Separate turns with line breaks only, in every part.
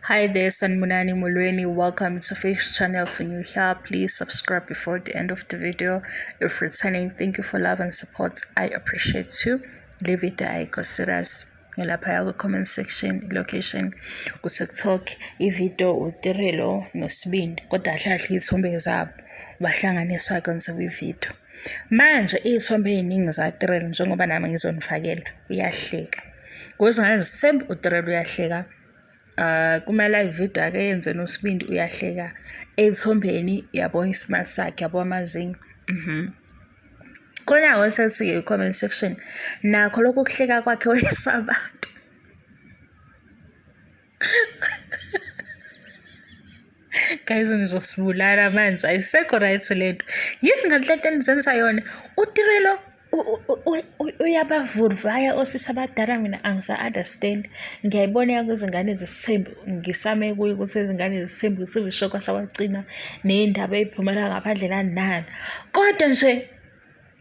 Hi there, Sanmunani Mulweni. Welcome to Face Channel. If you're here, please subscribe before the end of the video. If returning, thank you for love and support. I appreciate you. Leave it I consider us. ngilaphaya kwi-comment section location kutiktok ividiyo utirelo nosibindi kodwa ahlahle iy'thombe zabo bahlanganiswa-ke ngizoba ividiyo Manje iy'thombe ey'ningi zaTrell njengoba nami ngizonifakela uyahleka. Kuze ngazi sembe uTrell uyahleka. Uh, kuma-live video ake yenze nosibindi uyahleka ey'thombeni yabo ismart sakhe yabo amazinyo mm -hmm. khona-ke osesiye i-comment section nakho lokhu kuhleka kwakhe wesabantu guys ngizosibulala manje ayisekho right le nto yini nganhlento enizenza yona utirelo uyabavurvaya osisi abadala mina angisa-understand ngiyayibona yako izingane zesithembu ngisame kuyo ukuthi izingane zesithembu zisivishokwa sawagcina neyindaba eyiphumela ngaphandle kanani kodwa nje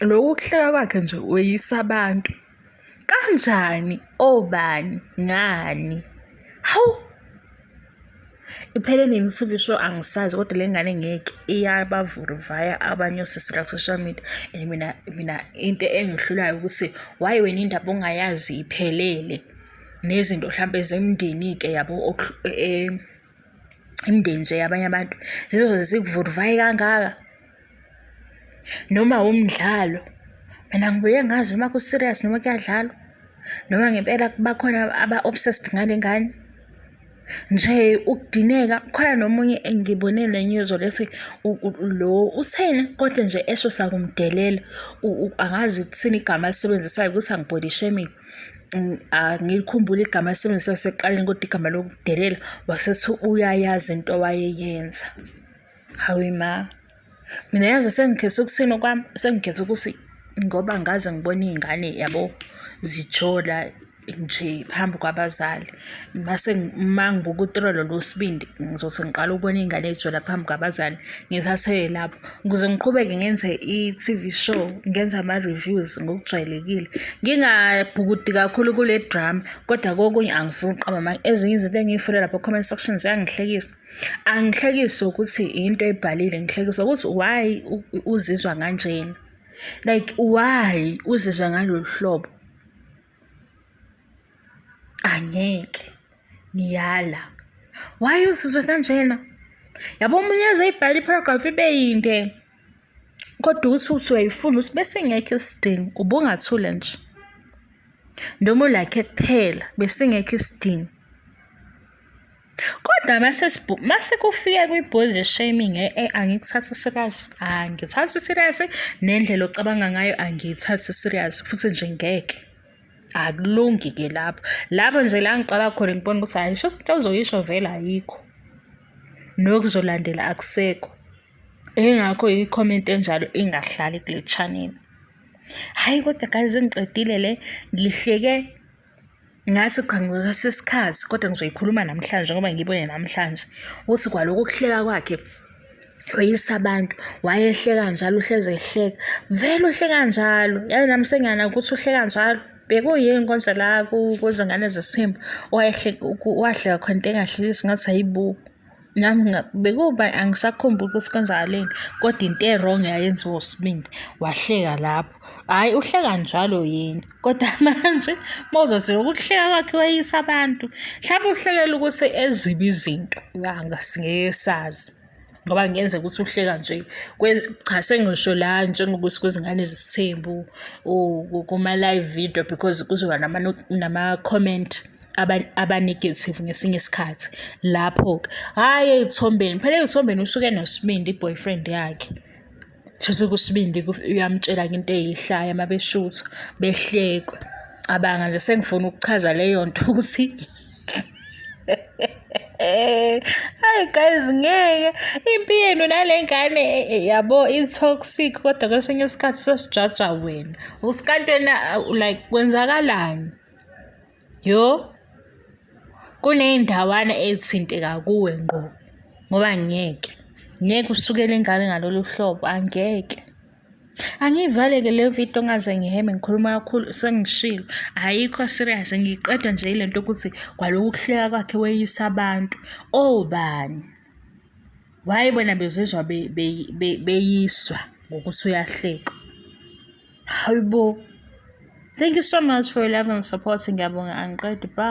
loku kuhleka kwakhe nje weyisa abantu kanjani obani ngani hawu iphele nini TV show angisazi kodwa le ngane ngeke iyabavuruvaya abanye osisi la social media and mina mina into engihlulayo ukuthi why wena indaba ongayazi iphelele nezinto mhlambe zemndeni ke yabo e, e, imndeni nje yabanye abantu zizoze zikuvuduvaye kangaka noma wumdlalo mina ngibuye ngazi noma ku-serious noma kuyadlalwa noma ngempela bakhona aba-obsessed ngale ngane nje ukudineka khona nomunye engibone le nyuzo lesi lo utheni kodwa nje esho sakumdelela angazi ukuthini igama alisebenzisayo ukuthi angibody shaming angikhumbuli igama esebenzisa seqaleni kodwa igama lokudelela wasethi uyayazi into wayeyenza hawe ma mina yazi sengikhetha ukuthini okwami sengikhetha ukuthi ngoba ngaze ngibona iy'ngane yabo zijola nje phambi kwabazali mase uma ngibuka utrolo losibindi ngizothi ngiqala ukubona iy'ngane ey'jola phambi kwabazali ngithatheke lapho Ukuze ngiqhubeke ngenze i-TV show, ngenze ama-reviews ngokujwayelekile. Ngingabhukudi kakhulu kule drama, kodwa kokunye angifuni ukuqamba amanga. Ezinye izinto engiy'funda lapha comment section ziyangihlekisa. Angihlekiswa ukuthi yinto oyibhalile, ngihlekiswa ukuthi why uzizwa kanjena. Like why uzizwa ngalolu hlobo. Angeke. Ngiyala. Why uzizwe kanjena? Yabo omunye eze ibhala iparagraph ibe yinde. Kodwa uthi uthi uyayifuna uthi bese ngekho isidingo ubungathule nje. Noma ulakhe kuphela bese ngekho isidingo. Kodwa mase mase kufika kwi-body shaming eh, eh angikuthathi serious angithathi serious nendlela ocabanga ngayo angiyithathi serious futhi nje ngeke akulungi ke lapho lapho nje la ngiqala khona ngibona ukuthi hayi sho ukuthi uzoyisho vele ayikho nokuzolandela akusekho engakho i-comment enjalo ingahlali kule channel hayi kodwa guys ngiqedile le ngihleke Ngathi uqhanguka sesikhathi kodwa ngizoyikhuluma namhlanje ngoba ngibone namhlanje ukuthi kwaloko kuhleka kwakhe weyisa abantu wayehleka njalo uhleze ehleka vele uhleka njalo yazi nami sengiyana ukuthi uhleka njalo bekuyini konje la kuzingane zesithembu wahleka khona into engahlekisi ngathi hayibo nami bekuba angisakhumbuli ukuthi kwenzakaleni kodwa into e-wrong yayenziwa usibindi wahleka lapho hhayi uhleka njalo yini kodwa manje uma uzothi ukuhleka kwakhe wayisa abantu mhlawumbe uhlekela ukuthi ezibi izinto angasingeke sazi ngoba kungenzeka ukuthi uhleka nje cha sengisho la njengokuthi kwezingane zisithembu kuma-live video because kuzoba nama-comment abanegative ngesinye isikhathi lapho-ke hhayi ey'thombeni phela ey'thombeni usuke nosibindi i-boyfriend yakhe shuthi kusibindi uyamtshela-ke into eyihlaya uma beshutha behlekwe cabanga nje sengifuna ukuchaza leyo nto ukuthi hayi guys ngeke impi yenu nale ngane eh, eh, yabo i-toxic kodwa kwesinye isikhathi sesijaja wena usikantwena like kwenzakalani Yo, kuney'ndawana ey'thinteka kuwe ngqo ngoba ngeke. Ngeke usukele ingane ngalolu hlobo, angeke. Angiyivale-ke le video ngaze ngiheme ngikhuluma kakhulu sengishilo. Ayikho serious ngiqedwa nje ile nto ukuthi kwaloku kuhleka kwakhe weyisa abantu. Obani? Why bona bezizwa beyiswa ngokuthi uyahleka? Hayibo. Thank you so much for your love and support. Ngiyabonga angiqedi. Bye.